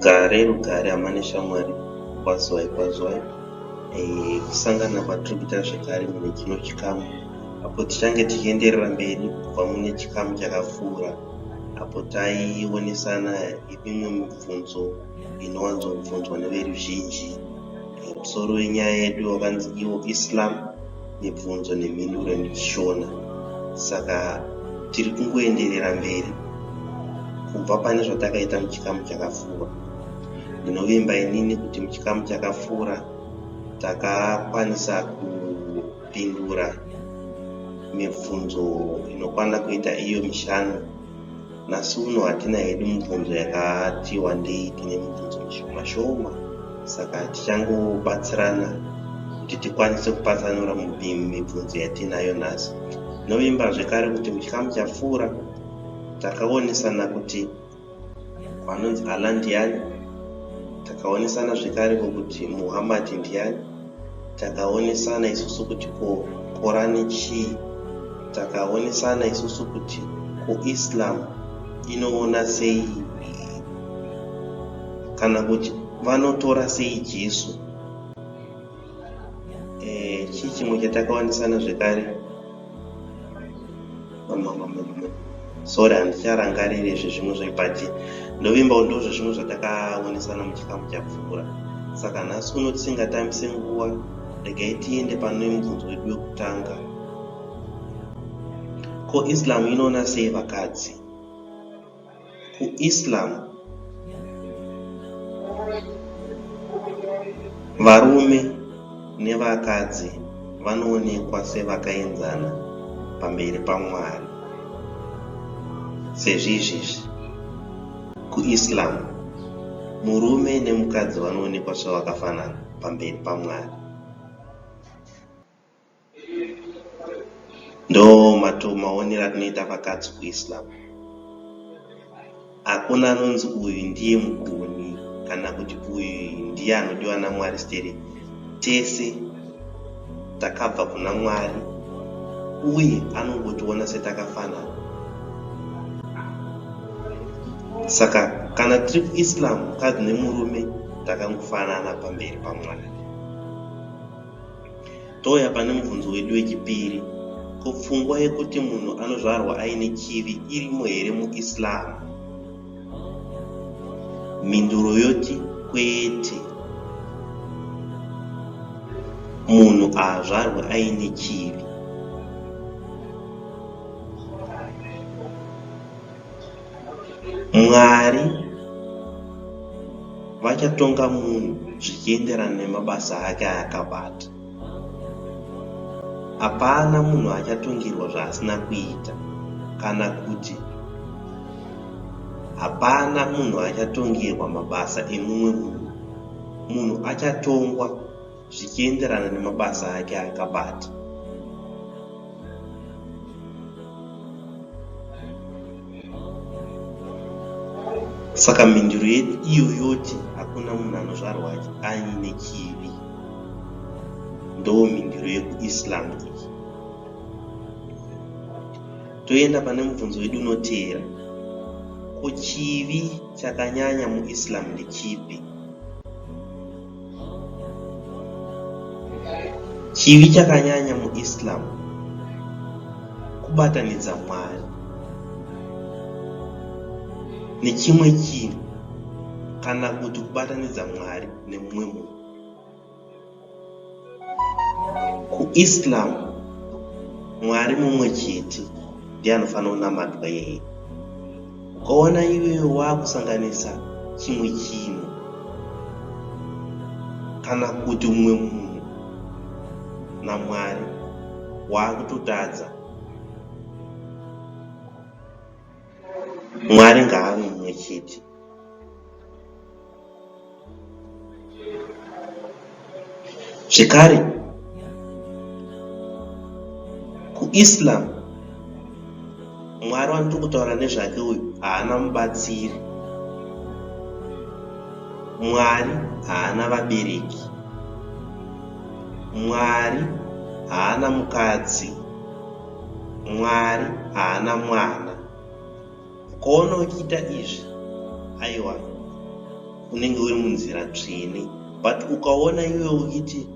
rugare rugare hama neshamwari kwazwai kwazwai eh, kusangana kwatirikuita zvekare mune chino chikamu apo tichange tichienderera mberi kubva mune chikamu chakapfuura apo taionesana imwe mibvunzo inowanzobvunzwa neveruzhinji musoro wenyaya yedu wakanzi iwo islam mibvunzo nemhinduro yechishona saka tiri kungoenderera mberi kubva pane zvatakaita muchikamu chakapfuura ndinovimba inini kuti muchikamu chakapfuura takakwanisa ku kupindura mibvunzo inokwana kuita iyo mishanu nhasi uno hatina hedu mibvunzo yakati wandei tine mibvunzo mishoma shoma saka tichangobatsirana kuti tikwanise kupatsanura mibvunzo yatiinayo nhasi novimba zvekare kuti muchikamu chapfuura takaonesana kuti Vanonzi Allah ndiani? Takaonesana zvekare ko kuti Muhammad ndiani? Takaonesana isusu kuti ko Quran chii? Takaonesana isusu kuti ko Islam inoona sei kana kuti vanotora sei Jesu? eh, chii chimwe chatakawanisana zvekare sorry handicharangariri izvi zvimwe zvepachi ndovimba undo zvezvimwe zvatakaonesana muchikamu chapfuura saka nhasi uno tisingatambise nguva regai tiende pane mubvunzo wedu wekutanga ko islam inoona sei vakadzi kuIslam varume nevakadzi vanoonekwa sevakaenzana pamberi paMwari sezvizvizvi kuIslam murume nemukadzi vanoonekwa sevakafanana pamberi paMwari Ndoo maonero atinoita vakadzi kuIslam. Hakuna anonzi uyu ndiye mugoni kana kuti uyu ndiye anodiwa naMwari stereki. Tese takabva kuna Mwari uye anongotiona setakafanana. Saka kana tiri kuIslam mukadzi nemurume takangofanana pamberi paMwari. Touya pane mubvunzo wedu wechipiri, Ko pfungwa yekuti munhu anozvarwa aine chivi irimo here muIslam? Mhinduro yoti kwete. Munhu haazvarwi aine chivi. Mwari vachatonga munhu zvichienderana nemabasa ake aakabata. Hapana munhu achatongerwa zvaasina kuita kana kuti hapana munhu achatongerwa mabasa emumwe munhu. Munhu achatongwa zvichienderana nemabasa ake aakabata. Saka mhinduro yedu iyo yoti hakuna munhu anozvarwa aine chivi ndoo mhinduro yekuislam iyi. Toenda pane mubvunzo wedu unoteera, ko chivi chakanyanya muislam ndechipi? Chivi chakanyanya muIslam kubatanidza Mwari nechimwe chinhu kana kuti kubatanidza Mwari nemumwe munhu. kuislam mwari mumwe chete ndiye anofanira kunamatwa yeye ukaona iwewe waakusanganisa chimwe chinhu kana kuti umwe munhu namwari waakutotadza mwari ngaave mumwe chete Zvekare, kuIslam Mwari wandiri kutaura nezvake uyu haana mubatsiri. Mwari haana vabereki. Mwari haana mukadzi. Mwari haana mwana. Ukaona uchiita izvi, aiwa, unenge uri munzira tsvene. But ukaona iwe uchiti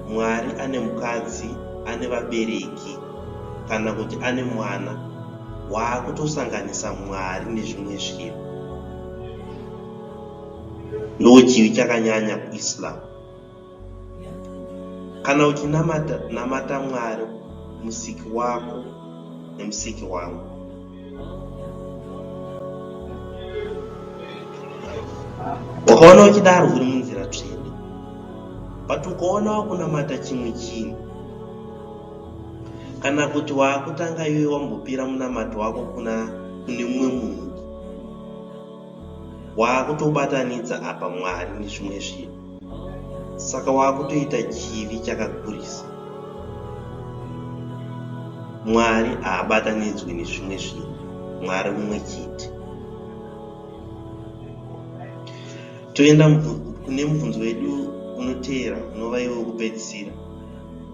Mwari ane mukadzi, ane vabereki, kana kuti ane mwana, waakutosanganisa Mwari nezvimwe zvinhu. Ndochivi chakanyanya kuIslam. kana uchinamata namata mwari musiki wako nemusiki wangu ukaona uchidaro uri munzira tsvene but ukaona wakunamata chimwe chinhu kana kuti waakutanga iwe wambopira munamato wako kuna kune mumwe munhu waakutobatanidza apa mwari nezvimwe zvinhu saka waakutoita chivi chakakurisa mwari haabatanidzwi nezvimwe zvinhu mwari mumwe chete toenda kune mubvunzo wedu unoteera unova iwe wekupedzisira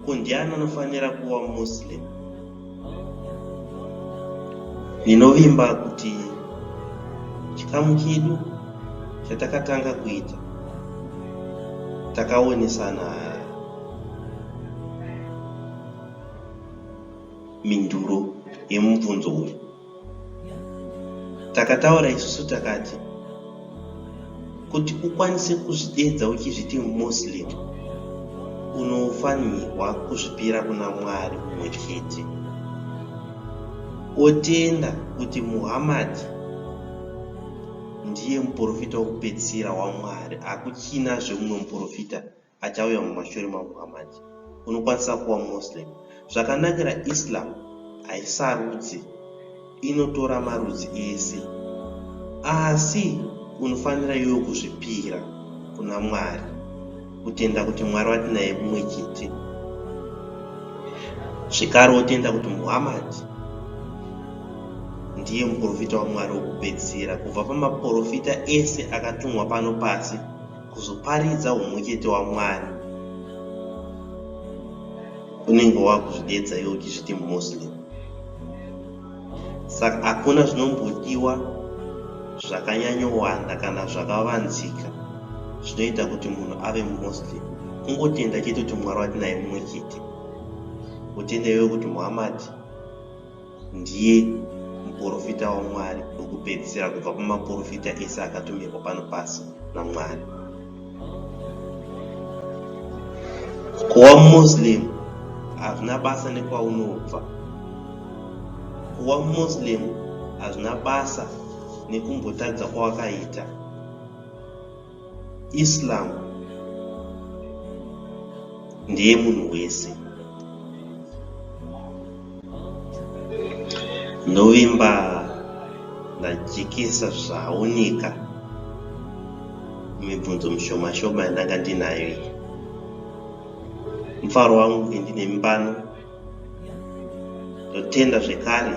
ko ndiani anofanira kuva muslim Ndinovimba kuti chikamu chedu chatakatanga kuita takaonesana mhinduro yemubvunzo uyu. takataura isusu takati kuti ukwanise kuzvideedza uchizviti muslim unofanirwa kuzvipira kuna mwari umwe chete otenda kuti muhammadi ndiye muprofita wokupedzisira wamwari akuchina zvemumwe muprofita achauya mumashure maMuhammad. Unokwanisa kuva Muslim. Zvakanakira Islam haisarudzi, inotora marudzi ese. Asi unofanira iwe kuzvipira kuna Mwari, kutenda kuti Mwari watinaye mumwe chete zvekare otenda kuti muhammad ndiye muprofita wamwari wekupedzisira kubva pamaprofita ese akatumwa pano pasi kuzoparidza humwechete waMwari unenge wakuzvidedza iwe uchizviti muslim saka hakuna zvinombodiwa zvakanyanyowanda kana zvakavanzika zvinoita kuti munhu ave muslim kungotenda chete kuti mwari watinaye mumwe chete utende iwe kuti muhammadi Ndiye muporofita waMwari wekupedzisira kubva kumaporofita ese akatumirwa pano pasi naMwari. Kuva Muslim hazvina basa nekwaunobva. Kuva Muslim hazvina basa nekumbotadza kwawakaita. Islam ndeye munhu wese. Ndovimba ndajikisa zvaoneka mibvunzo mishoma shoma yandanga ndinayo iyi. Mufaro wangu kuti ndine mbano ndotenda zvekare